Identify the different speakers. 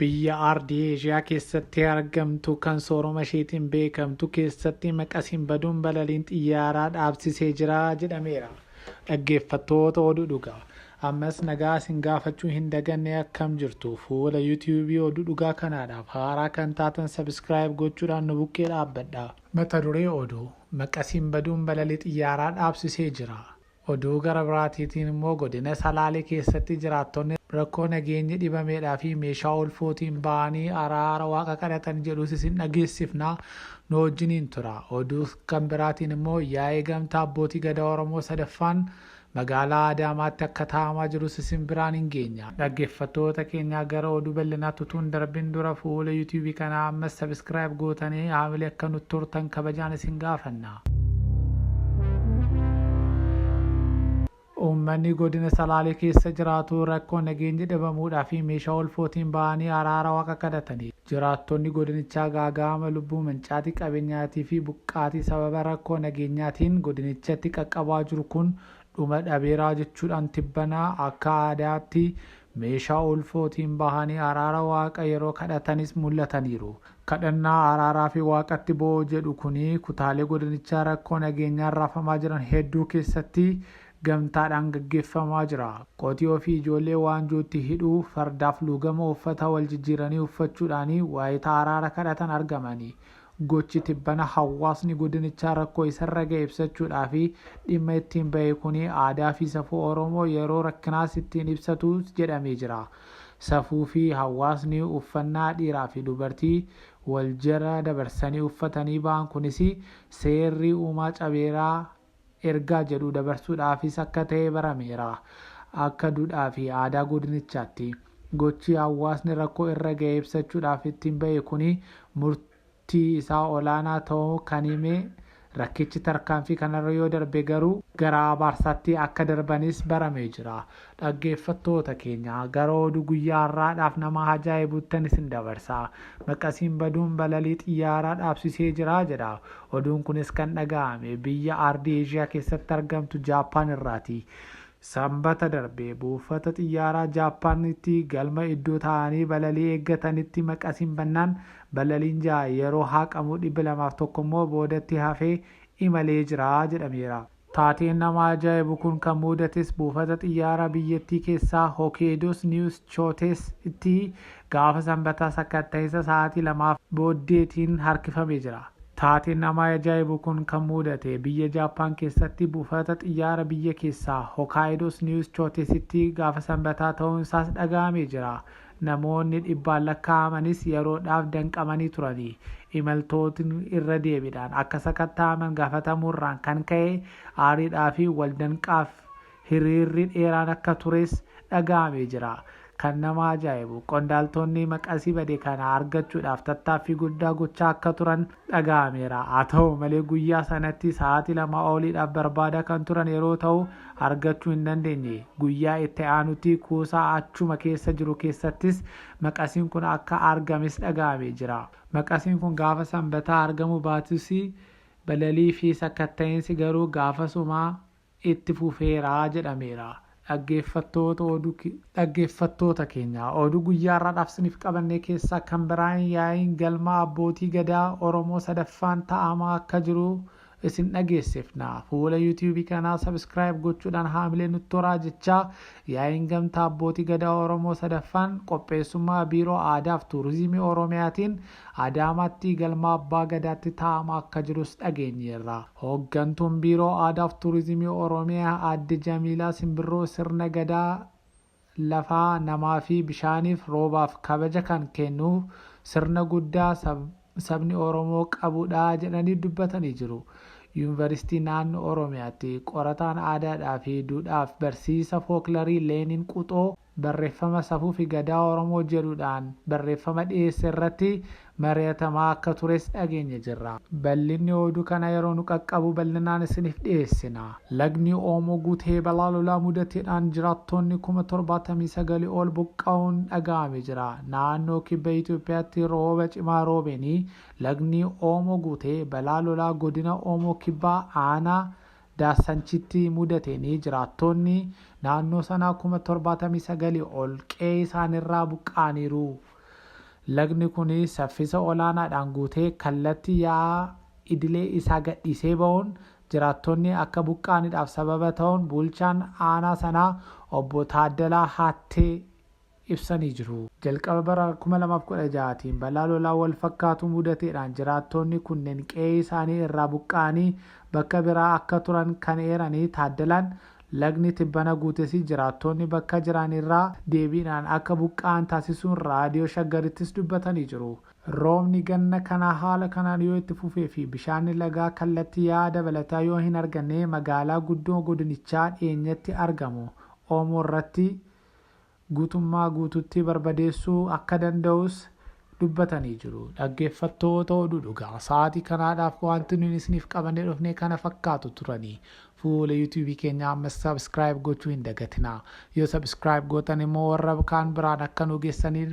Speaker 1: biyya aardii eeshiyaa keessatti argamtu kan sooroma isheetiin beekamtu keessatti maqasiin baduun balaliin xiyyaaraa dhaabsisee jira jedhameera. Dhaggeeffattoota oduu dhugaa. Ammas nagaa isin gaafachuu hin daganne akkam jirtu fuula you tube oduu dhugaa kanaadhaaf haaraa kan taatan subscribe gochuudhaan nu bukkee dhaabbadha. Mata duree oduu, Maqasiin baduun balalii xiyyaaraa dhaabsisee jira. Oduu gara biraatiitiin immoo godina Salaalee keessatti jiraattonni rakkoo nageenyi dhibameedhaa fi meeshaa ulfootiin ba'anii araara waaqa kadhatan jedhus isin dhageessifna nu wajjiniin tura. Oduu kan biraatiin immoo yaa'ii gamtaa abbootii gadaa Oromoo 3ffaan Magaalaa Adaamaatti akka taa'amaa jirus isin biraan hin geenya. Dhaggeffattoota keenyaa gara oduu bal'inaatti utuu hin darbin dura fuula YouTube kanaa ammas subscribe gootanii haamilee akka nutti turtan kabajaan isin gaafanna. Uummanni godina Salaalee keessa jiraatu rakkoo nageenyi dhabamuudhaa fi meeshaa olfootiin ba'anii araara waaqa kadhatanii. Jiraattonni godinichaa gaaga'ama lubbuu, mancaatii qabeenyaatii fi buqqaatii sababa rakkoo nageenyaatiin godinichatti qaqqabaa jiru kun dhuma dhabeeraa jechuudhaan tibbana akka aadaatti meeshaa ulfootiin bahanii araara waaqa yeroo kadhatanis mul'ataniiru. Kadhannaa araaraa fi waaqatti bo'oo jedhu kuni kutaalee godinichaa rakkoo nageenyaan raafamaa jiran hedduu keessatti gamtaadhaan gaggeeffamaa jira. Qotiyoo fi ijoollee waanjootti hidhuu, fardaaf luugama uffata wal jijjiiranii uffachuudhaani waayita araara kadhatan argamani. Gochi tibbana hawaasni godinichaa rakkoo isarra ga'e ibsachuudhaafi dhimma ittiin bahe kuni aadaa fi safuu Oromoo yeroo rakkinaas ittiin ibsatu jedhamee jira. Safuu fi hawaasni uffannaa dhiiraa fi dubartii wal jala dabarsanii uffatanii bahan kunisi seerri uumaa cabeera ergaa jedhu dabarsuudhaafis akka ta'e barameera. Akka dudhaa fi aadaa godinichaatti gochi hawaasni rakkoo irra ga'e ibsachuudhaaf ittiin ba'e kuni murtii isaa olaanaa ta'uu kan hime rakkichi tarkaanfii kanarra yoo darbe garuu gara abaarsaatti akka darbanis baramee jira. Dhaggeeffattoota keenya, gara oduu guyyaa har'aadhaaf nama hajaa'ibuttan isin dabarsa. Maqasiin baduun balalii xiyyaaraa dhaabsisee jira jedha. Oduun kunis kan dhaga'ame biyya Ardii Eeshiyaa keessatti argamtu Jaappaan irraati. Sambata darbe buufata xiyyaaraa Jaappaanitti galma iddoo taa'anii balalii eeggatanitti maqasiin bannaan balaliin 6 yeroo haaqamu 201 immoo boodatti hafee imalee jira jedhameera. Taateen nama ajaa'ibu kun kan muudates buufata xiyyaaraa biyyattii keessaa Hokeedoos Niiwus Chootees tti gaafa Sanbataa sakkatta'insa sa'aatii lamaaf booddeetiin harkifame jira. Taateen nama ajaa'ibu kun kan muudate biyya Jaappaan keessatti buufata xiyyaara biyya keessaa Hokaayidoos Niiwus Chootees tti gaafa Sanbataa ta'uun isaas dhaga'amee jira. Namoonni dhibbaan lakkaa'amanis yeroodhaaf danqamanii turani. Imaltootni irra deebiidhaan akka sakatta'aman gaafatamuurraan kan ka'e aariidhaa fi wal danqaaf hiriirri dheeraan akka tures dhaga'amee jira. Kan nama ajaa'ibu qondaaltonni maqasi bade kana argachuudhaaf tattaaffii guddaa gochaa akka turan dhaga'ameera. Haa ta'u malee guyyaa sanatti sa'aatii lamaa oliidhaaf barbaadaa kan turan yeroo ta'u argachuu hin dandeenye. Guyyaa itti aanutti kuusaa achuma keessa jiru keessattis maqasiin kun akka argames dhaga'amee jira. Maqasiin kun gaafa Sanbataa argamuu baatus balalii fi sakkatta'insi garuu gaafasuma itti fufeera jedhameera. Dhaggeeffattoota oduu Dhaggeeffattoota keenya oduu guyyaa har'aadhaaf isiniif qabannee keessaa kan biraan yaa'iin galmaa abbootii gadaa Oromoo 3ffaan ta'amaa akka jiru isin dhageessifna. Fuula YouTube kanaa subscribe gochuudhaan haamilee nutti horaa jechaa yaa'iin gamtaa abbootii gadaa Oromoo 3ffaan qopheessummaa Biiroo Aadaaf Tuurizimii Oromiyaatiin Adaamaatti Galma Abbaa Gadaatti taa'ama akka jirus dhageenyeerra. Hooggantuun Biiroo Aadaaf Tuurizimii Oromiyaa Aadde Jamiilaa Simbirroo sirna Gadaa lafaa, namaafi bishaaniif, roobaaf kabaja kan kennu sirna guddaa sabni Oromoo qabudha jedhanii dubbatanii jiru. Yuunvaristii Naannoo Oromiyaatti qorataan aadaadhaafi duudhaaf barsiisa fooklarii Leenin Quxoo, barreffama Safuufi Gadaa Oromoo jedhudhaan barreffama dhiyeesse irratti mari'atamaa akka tures dhageenye jirra. Bal'inni odu kana yeroo nu qaqqabu bal'inaan isinif dhiyeessina. Lagni Oomoo guutee balaa lolaa mudatedhaan jiraattoonni kuma torbaatamii sagal ol buqqa'uun dhaga'ame jira. Naannoo Kibba Itoophiyaatti rooba cimaa roobeenii lagni Oomoo guutee balaa lolaa godina Oomoo Kibbaa aanaa Daassanchitti mudateen jiraattoonni naannoo sanaa kuma 79 ol qe'ee isaaniirraa buqqa'aniiru. Lagni kun saffisa olaanaadhaan guutee kallatti yaa'a idilee isaa gadhiisee ba'uun jiraattoonni akka buqqa'anidhaaf sababa ta'uun bulchaan aanaa sanaa obbo Taaddalaa Haattee ibsanii jiru. Jalqaba bara 2016 tiin balaa lolaa walfakkaatu mudateedhaan jiraattoonni kunneen qe'ee isaanii irraa buqqa'anii bakka biraa akka turan kan eeranii Taaddalaan, lagni tibbana guutesi jiraattoonni bakka jiran irraa deebiidhaan akka buqqa'an taasisuun Raadiyoo Shaggarittis dubbatanii jiru. Roobni ganna kanaa haala kanaan yoo itti fufee fi bishaanni lagaa kallattii yaa'aa dabalataa yoo hin arganne magaalaa guddoo godinichaa dhiyeenyatti argamu Oomoo irratti guutummaa guutuutti barbadeessuu akka danda'us dubbatanii jiru. Dhaggeeffattoota oduu dhugaa sa'aatii kanaadhaaf waanti nuyin isiniif qabannee dhufne kana fakkaatu turani. Fuula YouTube keenyaa ammas subscribe gochuu hin dagatinaa. Yoo subscribe gootan immoo warra kaan biraan akka nuu geessaniif